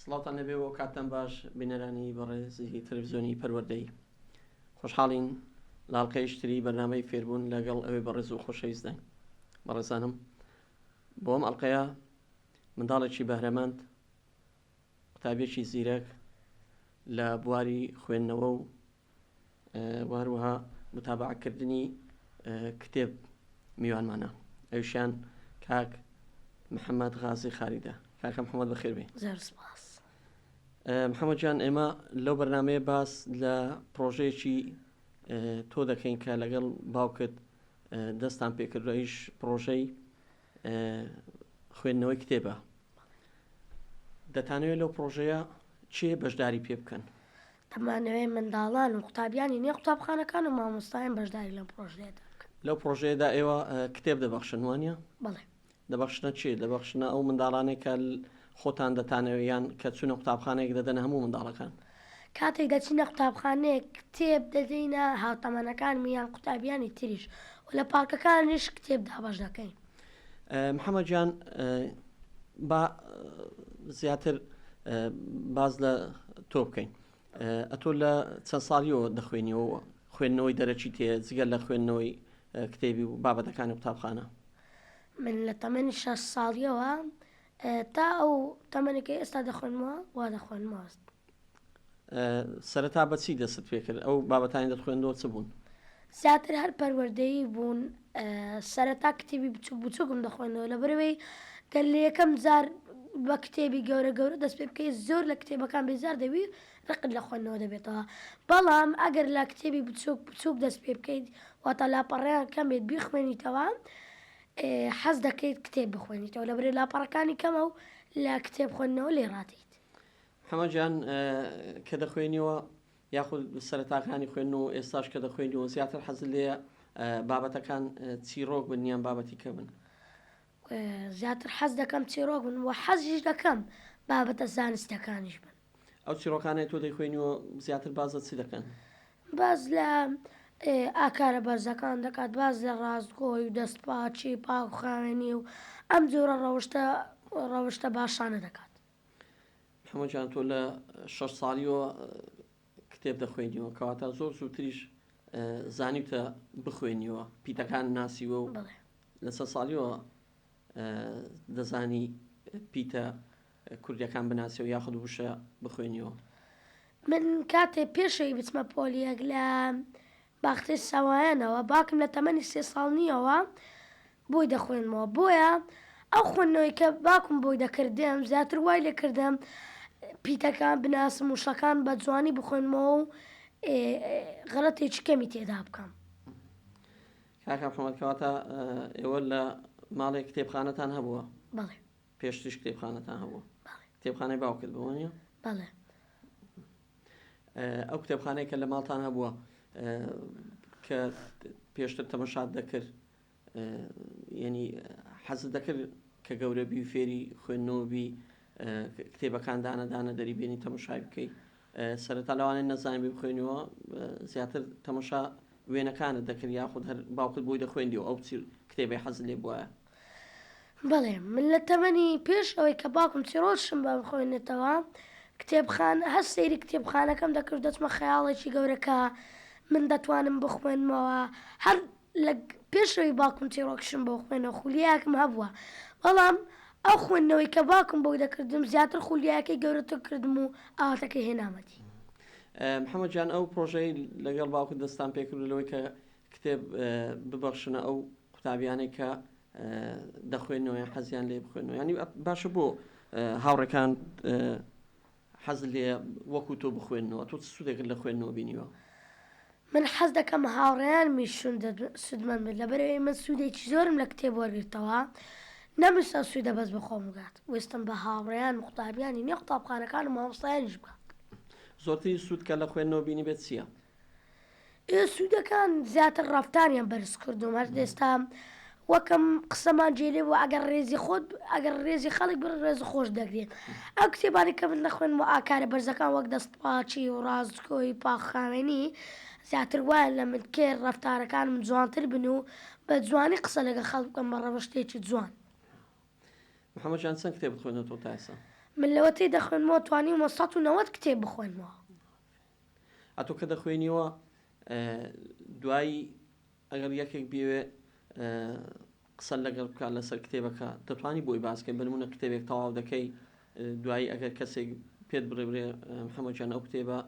سڵاوتان لێبێ و کاتتان باش بینەرانی بەڕێزی تەلەڤزیۆنی پەروەردەی خۆشحاڵین لاڵقەیشتری بەرنامەی فێربوون لەگەڵ ئەوێ بەڕێز و خۆشەویستداین بەڕێزانم بۆم ئەڵلقەیە منداڵێکی بەهرەمەند قوتابێکی زیرەک لە بواری خوێندنەوە و و هەروەها متابەعە کردنی کتێب میوانمانە ئەوشیان کاک محەممەد غازی خاریدە کاکە محەممەد بەخێر بێ محەممەد جان ئێمە لەو بەرنمەیە باس لە پرۆژەیەکی تۆ دەکەین کە لەگەڵ باوکت دەستان پێکردویش پرۆژەی خوێندنەوەی کتێبە دەتانەوێت لەو پرۆژەیە چێ بەشداری پێ بکەن دەمانەوێت منداڵان و قوتابیانی نێو قوتابخانەکان و مامۆستایان بەشداری لەم پڕۆژەیەدا بکەن. لەو پڕۆژەیەدا ئێوە کتێب دەبەخشن، وانیە؟ بەڵێ. دەبەخشنە چی؟ دەبەخشنە ئەو منداڵانەی کە خۆتان دەتانەوێت یان کە چوونە قوتابخانەیەک دەدەنە هەموو منداڵەکان؟ کاتێک دەچینە قوتابخانەیەک کتێب دەدەینە هاوتەمەنەکانم یان قوتابیانی تریش و لە پارکەکانیش کتێب دابەش دەکەین. محمد جان با زیاتر باز لە تۆ بکەین ئەتۆ لە چەند ساڵیەوە دەخوێنیەوە خوێندنەوەی دەرەچی تێ جگە لە خوێندنەوەی کتێبی و بابەتەکانی قوتابخانە من لە تەمەنی شە ساڵیەوە تا ئەو تەمەنەکە ئێستا دەخوێنمەوە وا دەخوێنمەوەست سەرەتا بە چی دەستت پێ کرد؟ ئەو بابەتانی دەتخوێندەوە چ بوون؟ زیاتر هەر پەروەردەیی بوون، سەرەتا کتێبی بچووک بچووکم دەخوێندەوە، لەبەر ئەوەی گەر لە یەکەم جار بە کتێبی گەورە گەورە دەست پێ بکەی زۆر لە کتێبەکان بێزار دەبی و ڕقت لە خوێندنەوە دەبێتەوە، بەڵام ئەگەر لە کتێبی بچووک بچووک دەست پێ بکەیت واتە لاپەڕەیان کەم بێت بیخوێنیتەوە حەز دەکەیت کتێب بخوێنیتەوە، لەبەرئەوەی لاپەڕەکانی کەمە و لە کتێب خوێندنەوە لێ ڕادێیت. حەمە گیان کە دەخوێنیوە یاخود سەرەتاکانی خوێن و ئێستاش کە دەخوێنیەوە زیاتر حەز لێ بابەتەکان چیرۆک بن یان بابەتی کە بن؟ زیاتر حەز دەکەم چیرۆک بن و حەزیش دەکەم بابەتە زانستەکانیش بن. ئەو چیرۆکانەی تۆ دەیخوێنیەوە زیاتر بازە چی دەکەن؟ باز لە ئاکارە بەرزەکان دەکات باز لە ڕاستگۆی و دەستپاچی پاکخاوێنی و ئەم جۆرە ڕەوشتە ڕەوشتە باشانە دەکات. محمود جان تۆ لە شەش ساڵیەوە کتێب دەخوێنیەوە کەواتە زۆر زووتریش زانیتە بخوێنیەوە پیتەکان ناسیوە و لەسە ساڵیەوە دەزانی پیتە کوردەکان بناسیەوە یاخود وشە بخوێنیەوە من کاتێ پێشەوی بچمە پۆلیەک لە باختر سوایانەوە، باوکم لە تەمەنی سێ ساڵ نییەوە بۆی دەخوێنمەوە، بۆیە ئەو خوێندنەوەی کە باوکم بۆی دەکردم زیاتر وای لێ کردم پیتەکان بناسم و شەکان بە جوانی بخوێنمەوە و غەلەتێکی کەمی تێدا بکەم. کاکە محەمەد کەواتە ئێوە لە ماڵێ کتێبخانەتان هەبووە؟ بەڵێ. پێشتریش کتێبخانەتان هەبووە؟ بەڵێ. کتێبخانەی باوکت بووە نیە؟ بەڵێ. ئەو کتێبخانەی کە لە ماڵتان هەبووە کە پێشتر تەمەشات دەکرد یعنی حەزت دەکرد کە گەورەبی و فێری خوێندنەوەبی کتێبەکان دانەدانە دەری بێنی تەمەشای بکەیت سەرەتا لەوانێت نەزانانی بێ بخوێنەوە زیاتر تەمەشا وێنەکانت دەکرد یاخود هەر باوکت بۆی دەخوێندی و ئەو کتێبی حەز لێ بواە بەڵێ، من لە تەمەنی پێش ئەوەی کە باوکم چیڕۆکشم بە بخوێنێتەوە کتێبخانە، هەر سەیری کتێبخانەکەم دەکرد و دەچمە خەیاڵێکی گەورە کە من دەتوانم بخوێنمەوە، هەر لە پێش ئەوەی باوکم چیڕۆکشم بۆ بخوێنێ خولیایەکم هەبووە، بەڵام ئەو خوێندنەوەی کە باوکم بۆی دەکردم زیاتر خولیایەکەی گەورەتر کردم و ئاواتەکەی هێنامە دی. محەمەد جان ئەو پڕۆژەی لەگەڵ باوکت دەستتان پێکرد و لەوەی کە کتێب ببەخشنە ئەو قوتابیانەی کە دەخوێنەوە یان حەزیان لێ بخوێنەوە ینی باشە بۆ هاوڕەکان حەز لێ وەکو تۆ بخوێنەوە تۆ سوودێکن لە خوێندنەوە بینیوە من حەز دەکەم هاوڕێیان میشون سوودمەند بن لەبەرەوەی من سوودێکی زۆرم لە کتێب وەرگرتەوە نەمویستە سوودە بەس بەخۆم بگات وستم بە هاوڕێیان قوتابیانی نێ قوتابخانەکان و مامۆستایانیش بکات زۆرترین سوود کە لە خوێندنەوە بینی بێت چییە؟ ئێ سوودەکان زیاتر ڕەفتاریان بەرز کردووم هەر ئێستا وەک ئەم قسەمان جێ لێ بوو ئەگەر ڕێزی خۆت ئەگەر ڕێزی خەڵک بڕ ڕێز خۆش دەگرێت ئەو کتێبانی کە من نەخوێن و ئاکارە بەرزەکان وەک دەستپاچی و ڕاستگۆی پاخاوێنی زیاتر وایە لە من کێ ڕەفتارەکانم جوانتر بن و بە جوانی قسە لەگە خەڵک بکەم بە ڕەوشتێکی جوان. محەمەد جان چەند کتێبت خوێندۆتەوە تا ئێستا؟ من لەوەتەی دەخوێنمەوە توانیومە سەد و نەوەد کتێب بخوێنمەوە. ئافەرین. ئەتۆ کە دەخوێنیەوە دوایی ئەگەر یەکێک بێوێ قسە لەگەڵ بکات لەسەر کتێبەکە دەتوانی بۆی باسکەین بنمونە کتێبێک تەواو دەکەی دوایی ئەگەر کەسێک پێت بڕێبرێ محەمەجان ئەو کتێبە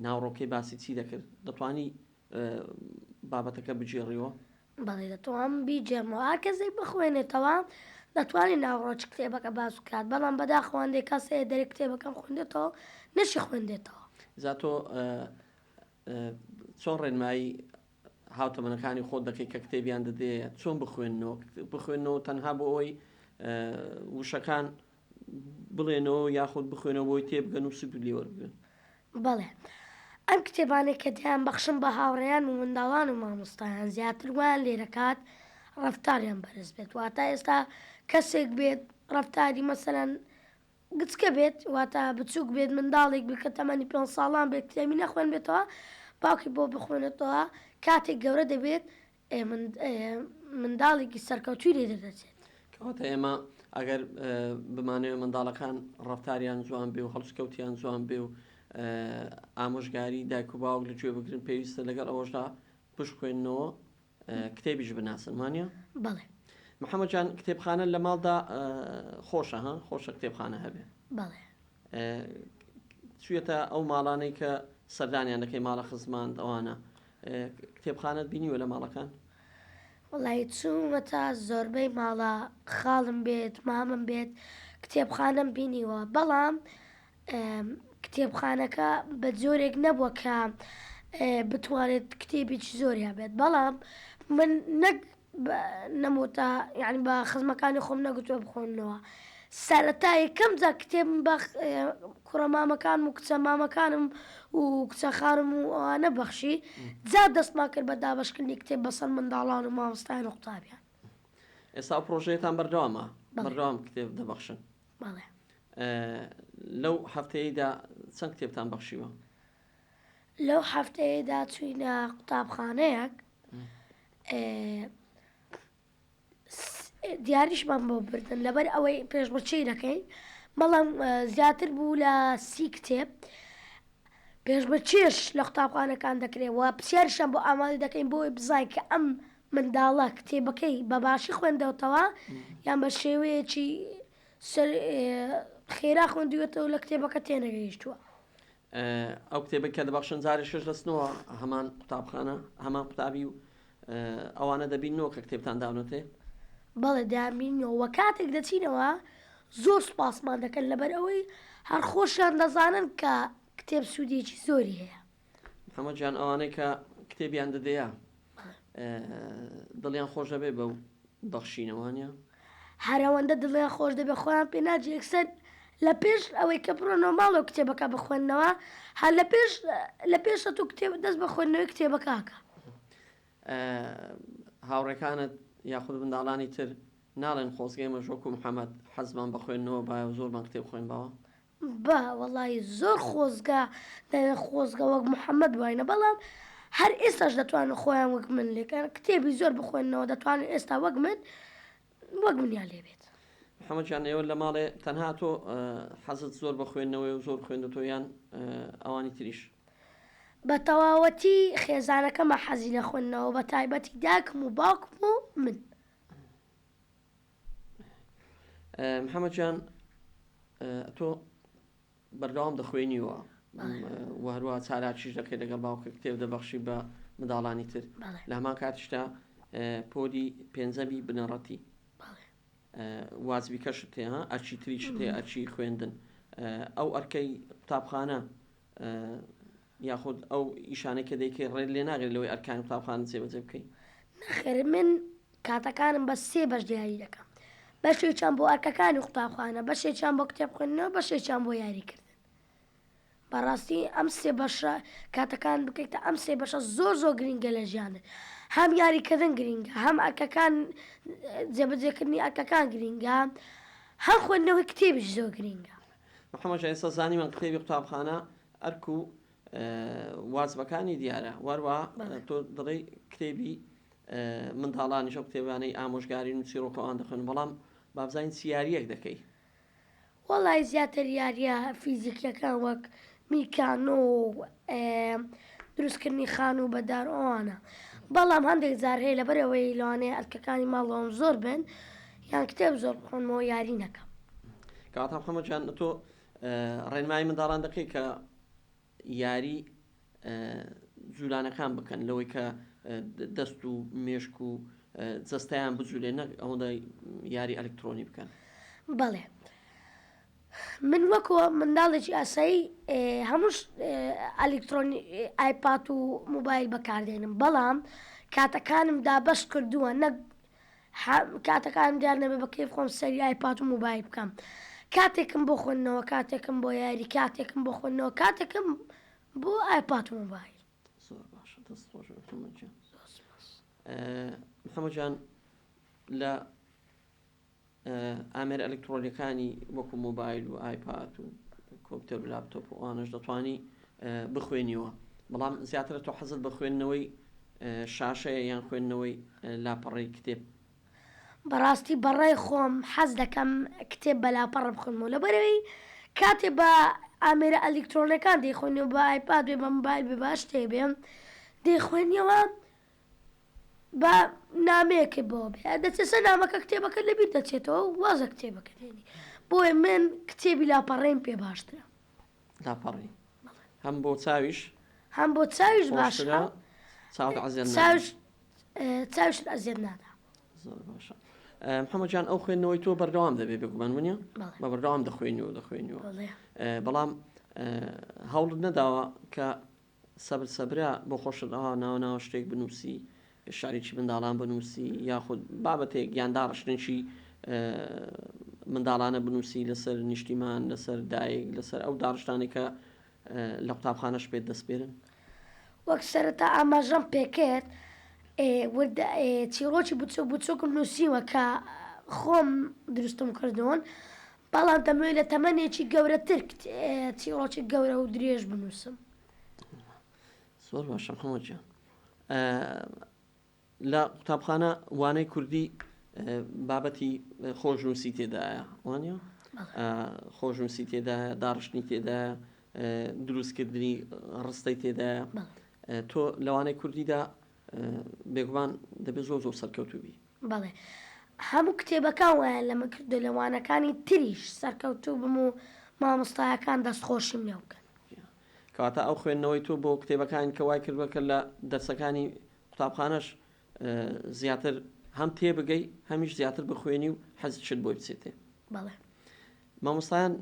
ناوڕۆکەی باسی چی دەکرد دەتوانی بابەتەکە بگێڕیەوە بەڵێ دەتوانم بیگێڕمەوە. هەر کەسێک بخوێنێتەوە دەتوانێت ناوەڕۆکی کتێبەکە باس بکات، بەڵام بەداخەوە هەندێک کەس هەیە دەرێ کتێبەکەم خوێندێتەوە نەشیخوێندێتەوە. جا تۆ چۆن ڕێنمایی هاوتەمەنەکانی خۆت دەکەیت کە کتێبیان دەدێ چۆن بخوێننەوە؟ بخوێنەوە تەنها بۆ ئەوەی وشەکان بڵێنەوە یاخود بخوێنەوە بۆی تێبگەن و سوود لێ وەربگرن. بەڵێ. ئەم کتێبانەی کە دەیانبەخشم بە هاوڕێیان و منداڵان و مامۆستایان زیاتر وایان لێدەکات ڕەفتاریان بەرز بێت. واتە ئێستا کەسێک بێت ڕەفتاری مەسەلەن گچکە بێت، واتە بچووک بێت، منداڵێک بێت کە تەمەنی پێنج ساڵان بێت کتێبی نەخوێنبێتەوە، باوکی بۆ بخوێنێتەوە، کاتێک گەورە دەبێت ئێ منداڵێکی سەرکەوتووی لێ دەردەچێت. کەواتە ئێمە ئەگەر بمانەوێت منداڵەکان ڕەفتاریان جوان بێ و هەڵسکەوتیان جوان بێ و ئامۆژگاری دایک و باوک لە گوێ بگرن پێویستە لەگەڵ ئەوەشدا بشخوێنەوە کتێبیش بناسن وانە؟ بەڵێ محەممەجان کتێبخانە لە ماڵدا خۆشە ها خۆشە کتێبخانە هەبێ بەڵێ چویەتە ئەو ماڵانەی کە سەردانیان دەکەی ماڵە خزماند ئەوانە کتێبخانەت بینیوە لە ماڵەکان؟ وەڵایی چوومەتە زۆربەی ماڵە خاڵم بێت مامم بێت کتێبخانەم بینیوە بەڵام کتێبخانەکە بە جۆرێک نەبووە کە بتوانێت کتێبێکی زۆری هەبێت بەڵام من نەک نەمۆتە یانی بە خزمەکانی خۆم نەگوتوە بخۆنەوە سەرەتا یەکەم جا کتێب بە کوڕە مامەکانم و کچە مامەکانم و کچە خارم و ئەوانە بەخشی جا دەستمان کرد بە دابشکردنی کتێب بەسەر منداڵان و مامۆستایان و قوتابیان ئێستا پرۆژەیەتان بەردەوامە بەردەوام کتێب دەبەخشن لەو هەفتەیەدا چەند کتێبتان بەخشیوە لەو هەفتەیەدا چووینە قوتابخانەیەک دیاریشمان بۆ بردن لەبەر ئەوەی پێشمەچەی دەکەین بەڵام زیاتر بوو لە سی کتێب پێشمە چێش لە قوتابخانەکان دەکرێت و پرسیارشان بۆ ئامادە دەکەین بۆی بزای کە ئەم منداڵە کتێبەکەی بە باشی خوێندەوتەوە یان بە شێوەیەکی خێرا خوندوێتەوە لە کتێبەکە تێنەگەیشتووە ئەو کتێبەی کە دەبەخشن جارێ شەش دەچنەوە هەمان قوتابخانە هەمان قوتابی و ئەوانە دەبینەوە کە کتێبتان داونەتێ؟ بەڵێ دەیانبینینەوە وە کاتێک دەچینەوە زۆر سوپاسمان دەکەن لەبەر ئەوەی هەر خۆشیان دەزانن کە کتێب سوودێکی زۆری هەیە. محەمەد گیان ئەوانەی کە کتێبیان دەدەیە دڵیان خۆش دەبێ بەو بەخشینەوانە. هەرەوەندە دڵیان خۆش دەبێ خۆیان پێ ناجێ یەکسەر لە پێش ئەوەی کە بڕۆنەوە ماڵەوە کتێبەکە بخوێنەوە هەر لە پێش لە پێش سەتوو کتێب دەست بە خوێندنەوەی کتێبەکەکە. هاوڕێکانت یاخود منداڵانی تر ناڵێن خۆزگەی مەژۆک و محەمەد حەزمان بە خوێندنەوە بایە و زۆرمان کتێب خوێنباوە؟ بە وەڵایی زۆر خۆزگە دەرێ خۆزگە وەک محمد بواینە بەڵام هەر ئێستاش دەتوانن خۆیان وەک من لێکەن کتێبی زۆر بخوێننەوە دەتوانن ئێستا وەک من وەک منیان لێبێت. محمد جان ئێوە لە ماڵێ تەنها تۆ حەزت زۆر بە خوێندنەوەیە و زۆر خوێندوتۆ یان ئەوانی تریش؟ بە تەواوەتی خێزانەکەمە حەزی لە خوێندنەوە بە تایبەتی داکم و باوکم و من. محەممەد جان تۆ بەردەوام دەخوێنیوە و هەروە چالاکیش دەکەێت لەگەڵ باوکە کتێب دەبەخشی بە منداڵانی تر لە هەمان کاتشتا پۆدی پێنجەبی بنەڕەتی وازبی کەش تێ ها ئەچی تریش تێ ئەچی خوێندن ئەو ئەرکەی قوتابخانە یاخود ئەو ئیشانەی کە دەیکەی ڕێت لێ ناگرێت لەوەی ئەرکانی قوتابخانە جێبەجێ بکەی؟ نەخێر من کاتەکانم بە سێ بەش دیاری دەکەم، بەشێکیان بۆ ئەرکەکانی قوتابخانە، بەشێکیان بۆ کتێب خوێندن و بەشێکیان بۆ یاری کردن. بەڕاستی ئەم سێ بەشە کاتەکانت بکەیتە ئەم سێ بەشە زۆر زۆر گرینگە لە ژیانت. هەم یاری کردن گرینگە، هەم ئەرکەکان جێبەجێ کردنی ئەرکەکان گرینگە، هەم خوێندنەوەی کتێبیش زۆر گرینگە. محەمەد ژیر، ئێستا زانیمان کتێبی قوتابخانە ئەرک و وازبەکانی دیارە وەروا تۆ دەڵێی کتێبی منداڵانیش و کتێبانەی ئامۆژگارین و چیڕۆکە ئەوان دەخوێن بەڵام بابزانین چ یاریەک دەکەی وەڵی زیاتر یاریە فیزیکیەکان وەک میکانۆ دروستکردنی خان و بەدار ئەوانە بەڵام هەندێک زار هەیە لە بەرەوەی لەوانەیە ئەرکەکانی ماڵەوەم زۆر بن یان کتێب زۆر بخۆنمەوە یاری نەکەم کاتە حەمەجان تۆ ڕێنمایی منداڵان دەکەیت کە یاری جولانەکان بکەن لەوەی کە دەست و مێشک و جەستەیان بجولێ نەک ئەوەندە یاری ئەلکترۆنی بکەن بەڵێ من وەکوە منداڵێکی ئاسایی هەمووش ئەلکترۆنی ئایپات و موبایل بەکاردێنم بەڵام کاتەکانم دابەش کردووە نەک حم کاتەکانم دیار نەبێ بە کەیف خۆم سەیری ئایپات و موبایل بکەم کاتێکم بۆ خوێندنەوە کاتێکم بۆ یاری کاتێکم بۆ خوێندنەوە کاتێکم بۆ ئایپات و موبایل. زۆر باشە دەست خۆش بێ محەمەد گیان. زۆر سوپاس. محەمەد گیان لە ئامێرە ئەلکترۆنیەکانی وەکو مۆبایل و ئایپات و کۆمپیوتەر و لاپتۆپ و ئەوانەش دەتوانی بخوێنیەوە بەڵام زیاترە تۆ حەزت بە خوێندنەوەی شاشەیە یان خوێندنەوەی لاپەڕەی کتێب بەڕاستی بەڕای خۆم حەز دەکەم کتێب بە لاپەڕە بخوێنمەوە لەبەرەوەی کاتێ بە ئامێرە ئەلیکترۆنەکان دەیخوێنی و بە ئایپاد بێ بە مبایل بێ باش تێ بێم دەیخوێنیەوە با نامەیەکت بۆ بێ دەچێسە نامەکە کتێبەکە لەبیر دەچێتەوە و واز لە کتێبەکە دێنی بۆیە من کتێبی لاپەڕەیم پێ باشترە لاپەڕی هەم بۆ چاویش هەم بۆ چاویش باشترە چاوت عەزێت نادا. چاوش چاوش ئەزیێت نادا زۆر باشە محەممەجان ئەو خوێندنەوەی تۆ بەردەوام دەبێ بگومان منە بەڵێ. بە بەردەوام دەخوێنی و دەخوێنیەوە بەڵێ. بەڵام هەوڵت نەداوە کە سەبر سەبرە بۆ خۆشت ئەوا ناوە ناوە شتێک بنووسی شعرێکی منداڵان بنووسی یاخود بابەتێک یان داڕشتنێکی منداڵانە بنووسی لەسەر نیشتیمان لەسەر دایک لەسەر ئەو داڕشتانێکە لە قوتابخانەش پێت دەستپێرن وەک سەرەتا ئاماژەم پێکرد چیڕۆکی بچوک بچوکم نووسیوە کە خۆم دروستم کردوون بەڵام دەمەوێت لە تەمەنێکی گەورەتر چیڕۆکی گەورە و درێژ بنووسم. زۆر باشە محەممەد گیان. لە قوتابخانە وانەی کوردی بابەتی خۆشنووسی تێدایە وانە خۆشنووسی تێدایە داڕشتنی تێدایە دروستکردنی ڕستەی تێدایە تۆ لەوانەی کوردیدا بێگومان دەبێت زۆر زۆر سەرکەوتوبی بەڵێ هەموو کتێبەکان وایان لەمە کردووە لە وانەکانی تریش سەرکەوتوو بم و مامۆستایەکان دەستخۆشیم لێ بکەن. کەواتە ئەو خوێندنەوەی تۆ بۆ کتێبەکان کە وای کردووە کە لە دەرسەکانی قوتابخانەش زیاتر هەم تێبگەی هەمیش زیاتر بخوێنی و حەزشت بۆی بچێتێ؟ بەڵێ. مامۆستایان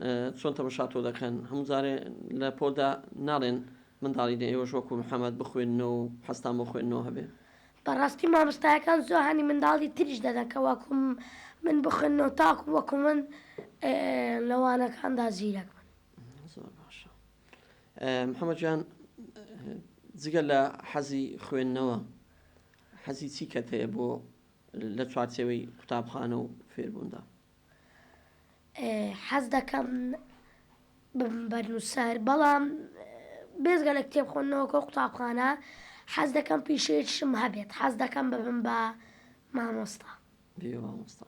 چۆن تەمەشا تۆ دەکەن هەموو جارێ لە پۆلدا ناڵێن منداڵی دە ئێوەش وەکو محمد بخوێننەوە و حەزتان بۆ خوێندنەوە هەبێ. بەڕاستی مامۆستایەکان زۆر هانی منداڵی تریش دەدەن کە وەکو من بخوێننەوە تاکو وەکو من لە وانەکاندا زیرەک بن. زۆر باشە محمد جان جگە لە حەزی خوێندنەوە حەزی چی کەت هەیە بۆ لە چوارچێوەی قوتابخانە و فێربووندا؟ حەز دەکەم ببم بەرنووسەر بەڵام بێزگە لە کتێب خۆندنەوەکە قوتابخانە حەز دەکەم پیشەیەکشم هەبێت حەز دەکەم ببم بە مامۆستا بێ مامۆستا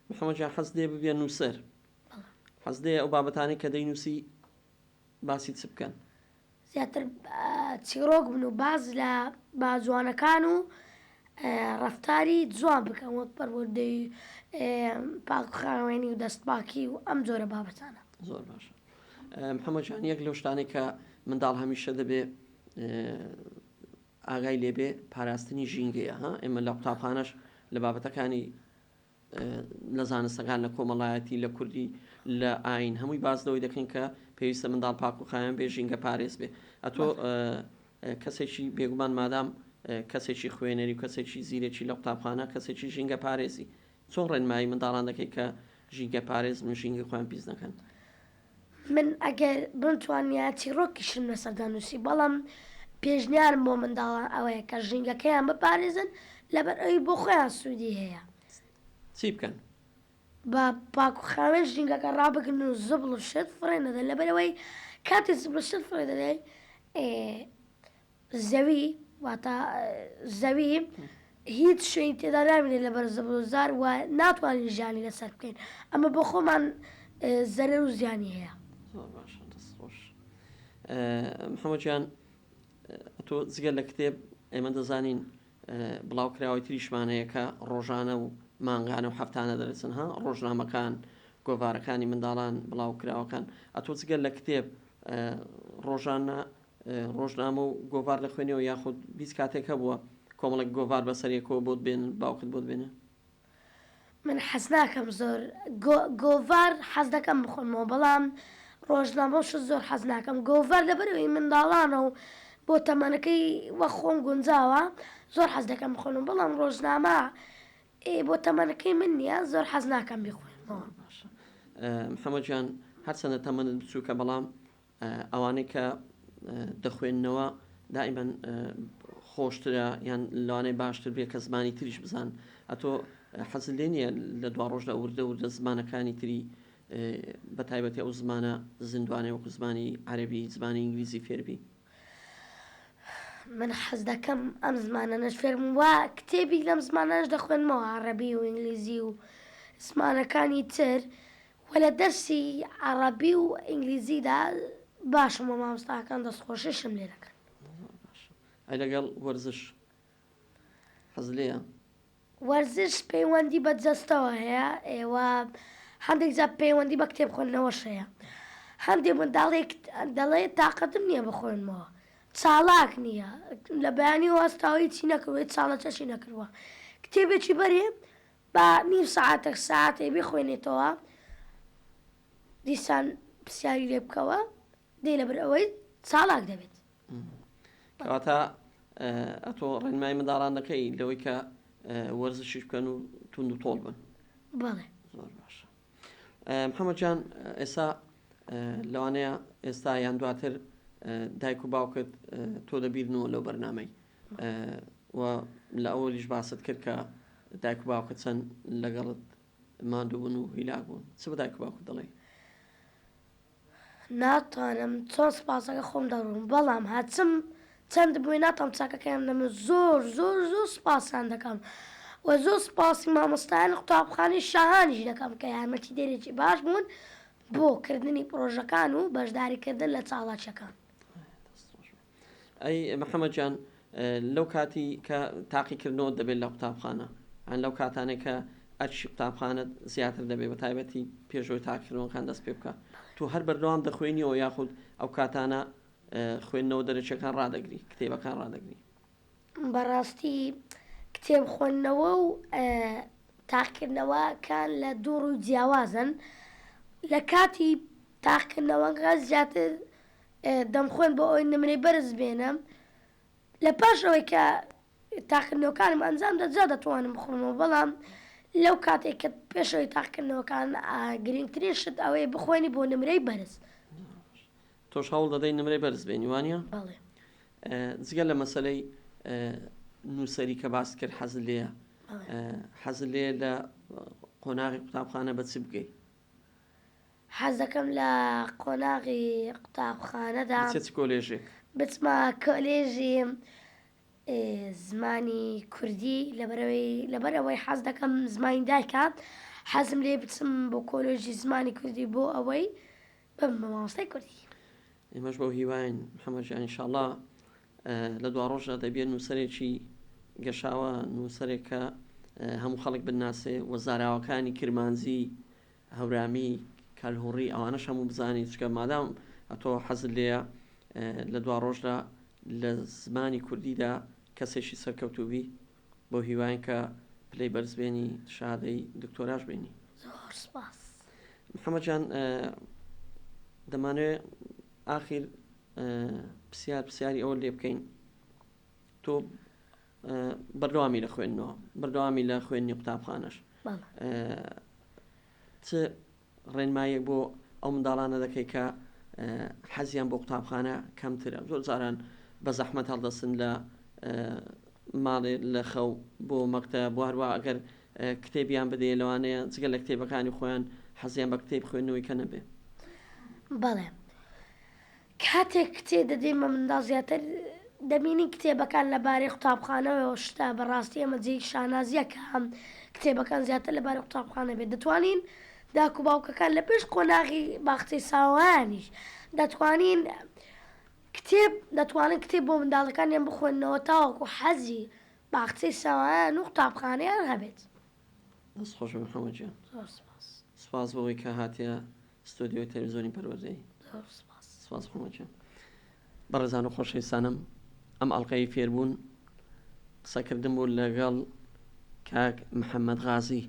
محەمەجان حەز لێ ببێ نووسەر حەز لێ ئەو بابەتانی کە دەینووسی باسی چ بکەن؟ زیاتر چیڕۆک بن و باس لە باجوانەکان و ڕەفتاری جوان بکەن وەک پەروەردەی پاکخاوێنی و دەستپاکی و ئەم جۆرە بابەتانە. زۆر باشە محەمەد جان یەک لەو شتانەی کە منداڵ هەمیشە دەبێ ئاگای لێبێ پاراستنی ژینگەیە ها ئێمە لە قوتابخانەش لە بابەتەکانی لە زانستەکان، لە کۆمەڵایەتی، لە کوردی، لە ئایین هەمووی باس لەوەی دەکەین کە پێویستە منداڵ پاک و خاوێن بێ ژینگە پارێز بێ ئەتۆ کەسێکی بێگومان مادام کەسێکی خوێنەری و کەسێکی زیرەکی لە قوتابخانە کەسێکی ژینگە پارێزی چۆن ڕێنمایی منداڵان دەکەی کە ژینگە پارێز و ژینگە خۆیان پیس نەکەن من ئەگەر بمتوانیا چیڕۆکیشم لەسەر دەنووسی بەڵام پێشنیارم بۆ منداڵان ئەوەیە کە ژینگەکەیان بپارێزن لەبەر ئەوی بۆ خۆیان سوودی هەیە. چی بکەن؟ بە پاک و خاوێن ژینگەکە ڕابگرن و زبڵ و شت فڕێ نەدەن لەبەر ئەوەی کاتێ زبڵ و شت فڕێ دەدەی زەوی، واتە زەوی، هیچ شوێنی تێدا نامێنێت لەبەر زبڵ و زار و ناتوانین ژیانی لەسەر بکەین، ئەمە بۆ خۆمان زەرەر و زیانی هەیە. زۆر باشە دەست خۆش محمد جان تۆ جگە لە کتێب ئێمە دەزانین بڵاوکراوەی تریشمانەیە کە ڕۆژانە و مانگانە و هەفتانە دەرەچن ها ڕۆژنامەکان گۆڤارەکانی منداڵان بڵاوکراوەکان ئەتۆ جگە لە کتێب ڕۆژانە ڕۆژنامە و گۆڤار دەخوێنیەوە یاخود هیچ کاتێک هەبووە کۆمەڵێک گۆڤار بەسەر یەکەوە بۆت بێنن باوکت بۆت بێنێ؟ من حەزناکەم زۆر گۆڤار حەزدەکەم بخۆمەوە بەڵام ڕۆژنامەو شت زۆر حەزناکەم گۆڤار لەبەرئەوەی منداڵانە و بۆ تەمەنەکەی وەک خۆم گونجاوە زۆر حەزدەکەم بخۆنەوە بەڵام ڕۆژنامە ئێ بۆ تەمەنەکەی من نیە زۆر حەزناکەم بیخۆمەوە. باشە محەمەد گیان هەرچەندە تەمەنت بچووکە بەڵام ئەوانەی کە دەخوێننەوە دائیمەن خۆشترە یان لەوانەیە باشتر بێ کە زمانی تریش بزان ئەتۆ حەزل لێ نییە لە دوا ڕۆژدا وردە وردە زمانەکانی تری بە تایبەتی ئەو زمانە زیندوانەی وەکو زمانی عەربی زمانی ئینگلیزی فێربی من حەز دەکەم ئەم زمانە نەش فێرم وە کتێبی لەم زمانەش دەخوێنمەوە عەڕەبی و ئینگلیزی و زمانەکانی تر وە لە دەرسی عەڕەبی و ئینگلیزیدا باشم وە مامۆستاکان دەست خۆشیشم لێ دەکەن. زۆر باشە ئەی لەگەڵ وەرزش حەز لێیە؟ وەرزش پەیوەندی بە جەستەوە هەیە ئێوە هەندێک جار پەیوەندی بە کتێب خوێندنەوەش هەیە هەندێک منداڵێک دەڵێ تاقەتم نییە بخوێنمەوە چاڵاک نییە لە بەیانی وەستاوە هیچی نەکردووە هیچ چاڵەچەشی نەکردووە کتێبێکی بەرێ با نیو سەعاتێک سەعاتێک بیخوێنێتەوە دیسان پرسیاری لێ بکەوە دەی لەبەر ئەوەی چاڵاک دەبێت کەواتە ئەتۆ ڕێنمای منداڵان دەکەی لەوەی کە وەرزشیش بکەن و تونند و تۆڵ بن بەڵێ زۆر باشە محەممەجان ئێستا لەوانەیە ئێستا یان دواتر دایک و باوکت تۆ دەبیرنەوە لەو بەرنمەی و لە ئەوەلیش باست کرد کە دایک و باوکت چەند لەگەڵت ماندوو بوون و هیلاک بوون چ بە دایک و باوکت دەڵێی؟ ناتوانم چۆن سوپاسەکە خۆم دەڕووم بەڵام هەرچم چەند بووی ناتوانم چاکەکەیان دەم زۆر زۆر زۆر سوپاسیان دەکەم و زۆر سوپاسی مامۆستایانی قوتابخانەی شاهانیش دەکەم کە یارمەتی دەرێکی باش بوون بۆ کردنی پڕۆژەکان و بەشداری کردن لە چاڵاکیەکان. ئەی محمد جان لەو کاتی کە تاقی کردنەوە دەبێت لە قوتابخانە هەن لەو کاتانێک کە ئەرشی قوتابخانت زیاتر دەبێت بە تایبەتی پێشۆی تاکردنەوەکان دەست پێ بکە تو هەر بەردەوام دەخوێنیەوە یاخود ئەو کاتانە خوێندنەوە دەرەچەکان ڕدەگری کتێبەکان ڕدەگری بەڕاستی کتێب خوێندنەوە و تاقیکردنەوە کان لە دوو ڕووی جیاوازن، لە کاتی تاقیکردنەوەکە زیاتر دەمخوێند بۆ ئەوەی نمرەی بەرز بێنم، لە پاش ئەوەی کە تاقیکردنەوەکانم ئەنجام دا جا دەتوانم بخوێنمەوە، بەڵام لەو کاتەی کە پێشەوەی تاقیکردنەوەکان گرینگترین شت ئەوەیە بخوێنی بۆ نمرەی بەرز. تۆش هەوڵ دەدەی نمرەی بەرز بێنی وانیە؟ بەڵێ. جگە لە مەسەلەی نووسەری کە باست کرد حەزت لێیە حەزت لێ لە قۆناغی قوتابخانە بە چ بگەی حەز دەکەم لە قۆناغی قوتابخانەدا چ چ کۆلێژێک بچمە کۆلێژی زمانی کوردی لەبەرەوەی لەبەرەوەی حەز دەکەم زمانی دایکە حەزم لێ بچم بۆ کۆلۆژی زمانی کوردی بۆ ئەوەی بم بە مامۆستای کوردی. ئێمەش بەو هیواین محمد جان ان شاءاللە لە دواڕۆژدا دەبیە نووسەرێکی گەشاوە نووسەرێک کە هەموو خەڵک بناسێ و زاراوەکانی کرمانجی هەورامی کەلهوڕی ئەوانەش هەموو بزانین چکە مادام ئەتۆ حەزل لێە لە دواڕۆژدا لە زمانی کوردیدا کەسێکی سەرکەوتوبی بۆ هیواین کە پلەی بەرز بێنی شەهادەی دکتۆراش بێنی. زۆر سپاس. محمد جان دەمانوێ ئاخیر پسیار پسیاری ئەوە لێ بکەین تۆ بەردەوامی لە خوێندنەوە بەردەوامی لە خوێندنی قوتابخانەش چ ڕێنماییەک بۆ ئەو منداڵانە دەکەی کە حەزیان بۆ قوتابخانە کەمترە زۆر جاران بە زەحمەت هەڵدەستن لە ماڵێ لە خەو بۆ مەکتە بواروا ئەگەر کتێبیان بدەیە لەوانەیە جگە لە کتێبەکانی خۆیان حەزیان بە کتێب خوێندنەوەی کە نەبێ بەڵێ کاتێک کتێ دەدەینمە منداڵ زیاتر دەبینین کتێبەکان لە بارەی قوتابخانەوەیەوە شتە بە ڕاستی ئەمە جێی شانازیە کە هەم کتێبەکان زیاتر لە بارەی قوتابخانە بێت دەتوانین داکو باوکەکان لە پێش قۆناغی باخچەی ساوانیش دەتوانین کتێب دەتوانن کتێب بۆ منداڵەکانیان بخۆنەوە تاوەکو حەزی باخچەی ساوایان و قوتابخانەیان هەبێت. دەست خۆش بێ محەمەد گیان. زۆر سوپاس. سوپاس بەوەی کە هاتیە ستۆدیۆی تەلەفزیۆنی پەروەردەی. زۆر سوپاس. سوپاس خۆم ئەکەم. بەڕێزان و خۆشەویستانم ئەم ئەڵقەی فێربوون قسەکردن بوو لەگەڵ کاک محەممەد غازی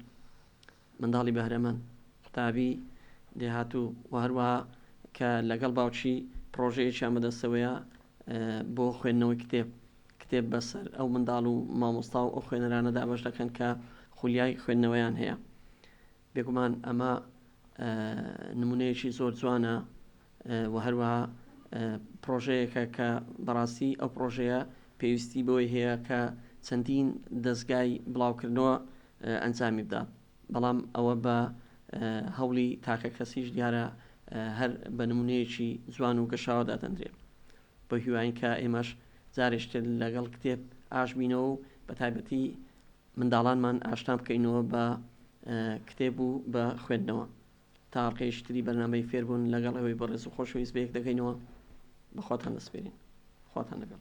منداڵی بەهرەمەند قوتابی دێهاتوو و هەروە کە لەگەڵ باوچی پرۆژەیەکیان بەدەستەوەیە بۆ خوێندنەوەی کتێب کتێب بەسەر ئەو منداڵ و مامۆستا و ئەو خوێنەرانە دابش دەکەن کە خولیای خوێندنەوەیان هەیە بێگومان ئەمە نمونەیەکی زۆر جوانە و هەروەها پڕۆژەیەکە کە بەڕاستی ئەو پڕۆژەیە پێویستی بۆی هەیە کە چەندین دەستگای بڵاوکردنەوە ئەنجامی بدا بەڵام ئەوە بە هەوڵی تاکە کەسیش دیارە هەر بە نمونەیەکی جوان و گەشاوە دادەندرێت بە هیواین کە ئێمەش جارێشتر لەگەڵ کتێب ئاش بینەوە و بە تایبەتی منداڵانمان ئاشنا بکەینەوە بە کتێب و بە خوێندنەوە تا ئەڵقەیەکی تری بەرنامەی فێربوون لەگەڵ ئێوەی بەڕێز و خۆشەویست بەیەک دەگەینەوە بەخواتان دەسپێرین خواتان لەگەڵ